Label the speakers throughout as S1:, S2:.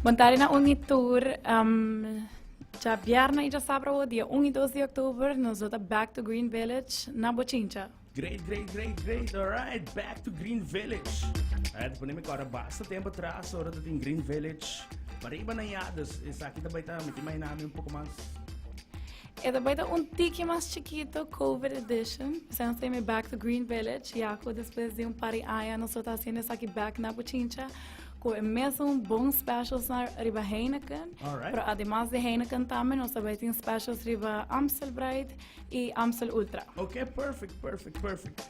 S1: Bon tarde na un y tur. Djabièrnè i djasabra awo, dia un i dos di oktober, nos lo ta back to Green Village na Bochincha. Great, great, great,
S2: great! Alright, back to Green Village. Alright, ta pone mi kòrda basta tempu atras ora tatin Green Village. Pariba na ya, dus esaki ta bai ta miti mai na mi un poko mas.
S1: E ta bai ta un tiki mas chikito Covid edition. Esaki nos ta yama e Back to Green Village, ya cu despues di un par di aña nos lo ta haciendo esaki back na Pichincha cu e mesun bon specials na riba Heineken. Alright. Pero ademas
S2: di Heineken
S1: tambe nos ta bai tin specials riba Amstel Bright y Amstel Ultra. Ok, perfect,
S2: perfect, perfect.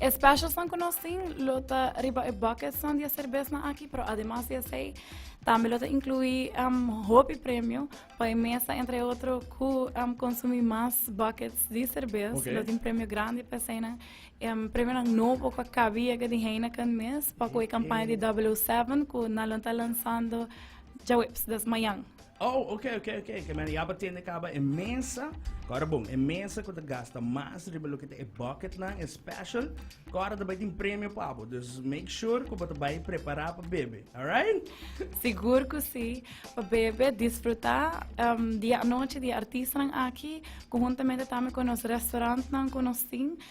S2: E
S1: specialsnan cu nos tin lo ta riba e bucketsnan di e cerbesnan aki, pero ademas di esey tambe lo ta inclui um hopi premio pa e mesa entre otro cu um consumi mas buckets di cerbes. Oké. Lo tin premio grandi
S2: pa
S1: eseynan. Um premionan nobo cu a cabi yega di Heineken mes, pa cu e campaña di 007 cu nan lo ta lanzando djaweps, dat is mañan. Oh, ok, ok,
S2: ok, ok, mira, ya pa tende caba e mesa. Cora bon, e mesa cu te gasta mas riba lo que te e bucket nan, e special. Cora te bai tin premio pabo, dus make sure cu te bai prepara pa bebe, alright? Sigur cu
S1: si, pa bebe disfruta um, dia anochi di artistanan aki, conjuntamente tambe cu nos restaurantnan cu nos tin,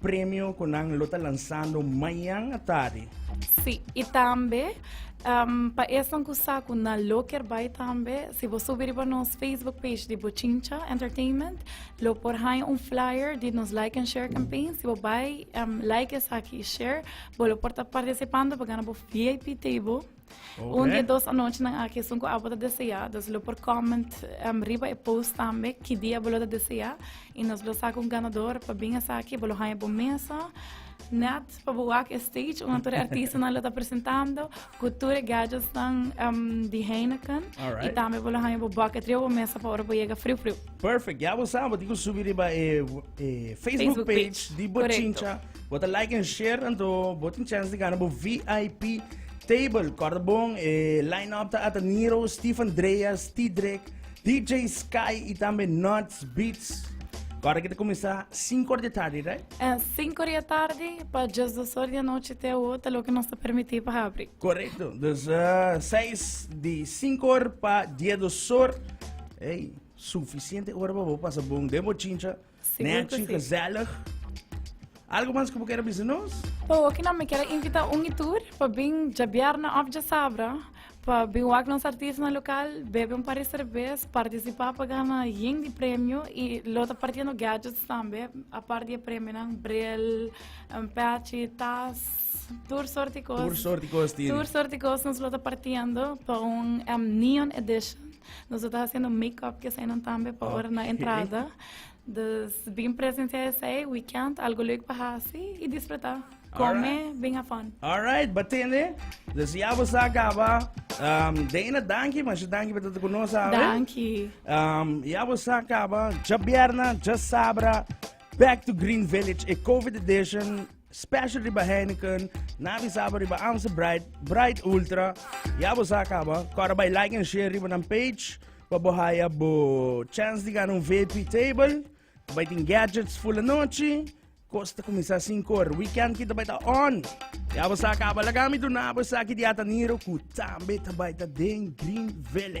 S2: Premio cu nan lo ta lansando mañan atari. Sí, y
S1: tambe um, pa esnan cu sa cu nan lo ker bay tambe, si bo subi riba nos Facebook page di Bochincha Entertainment, lo por haña un flyer di nos Like and Share campaign. Si bo bay um, like esaki y share, bo lo por ta participando pa gana bo VIP table. Un di e
S2: dos anochinan
S1: aki esun ku abo ta deseá, nos lo por kòment riba e post tambe ki dia bo lo ta deseá i nos lo saka un ganador pa bin esaki bo lo haña bo mesa nèt pa bo wak e stage unda tur e artistanan lo ta presentando ku tur e gèdjetsnan di Heineken i tambe bo lo
S2: haña bo
S1: bòkèt riba bo mesa pa ora bo yega friu friu. Perfect, ya bo
S2: sa, bo tin ko subi riba e Facebook page di Bochincha. Bo ta like en share, tanto bo tin chance di gana bo VIP table. Korda bon, e line-up ta ata Nero, Steve Andreas, T-Drek, DJ Sky i tambe Nuts Beats. Korda ki ta kuminsá 5 ora di tardi, right? Eh, 5 ora di
S1: tardi pa djes dos ora di anochi te awo ta loke nos ta permití pa habri. Correcto. Dus eh,
S2: seis di cinco or pa diez dos or. Hey, suficiente hora pa bo pasa bon den bo chincha. Nechi,
S1: gezellig.
S2: Algo mas ku bo kere bisa nos? Pa hoki nan mi kere
S1: invita un i tur pa bin djabièrnè òf djasabra pa bin wak nos artisnan lokal, bebe un par di serbes, partisipá pa gana yen di premio i lo ta partiendo gadgets tambe apart di e premionan, bril, pèchi, tas, tur sort di kos. Tur sort di kos tin. Tur sort di kos nos lo ta partiendo pa un neon edition. Nos lo ta hasiendo makeup di eseinan tambe pa ora na entrada. Dus bin presenciá esei weekend, algo leuk pa hasi i disfrutá. Come bin a fun. Alright, bo tende?
S2: Dus ya bo sa kaba. Um, Dana, danki, masha danki pa tata ku nos awe. Danki. Um, ya bo sa kaba,
S1: dja
S2: bierna, dja sabra, Back to Green Village, e COVID edition. Special riba Heineken, na avisaba riba Amstel Bright, Bright Ultra. Ya bo sa acaba. Cora by like and share riba nan page. Pa bo haya bo chance di gana un VIP table. By tin gadgets full anochi. Kosta kumisa 5 ora. Weekend kita by ta on. Ya bo sa acaba. Lagami dunabo esaki di Ataniro ku tambe ta by ta den Green Village.